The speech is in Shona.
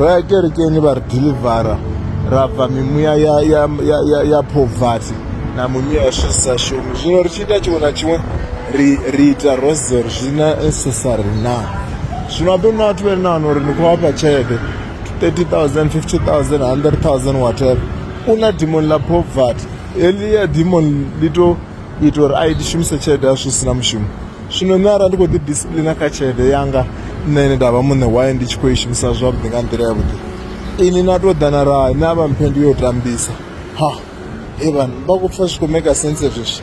raekerekeni vari dhilivhara rabva mimuya yapovhati namumiya yasvisashumi zvino richiita chiona chimwe riita rosary zvina necessary na zvino vapemuna vati vene vanori nikuwapa chete 30000 50000 100000 whatever una demon lapovhati eliya demon lito ito ri aitishumisa chete asvisina mushumo zvino nne ara ndiko didisciplina kachede yanga nene ndava mune waye ndichikoishumisa zvavudi nga ndira yavudi ini natodana raa nava mpendi yotambisa ha evanhu vakupfa zvikomeka sense zvizvi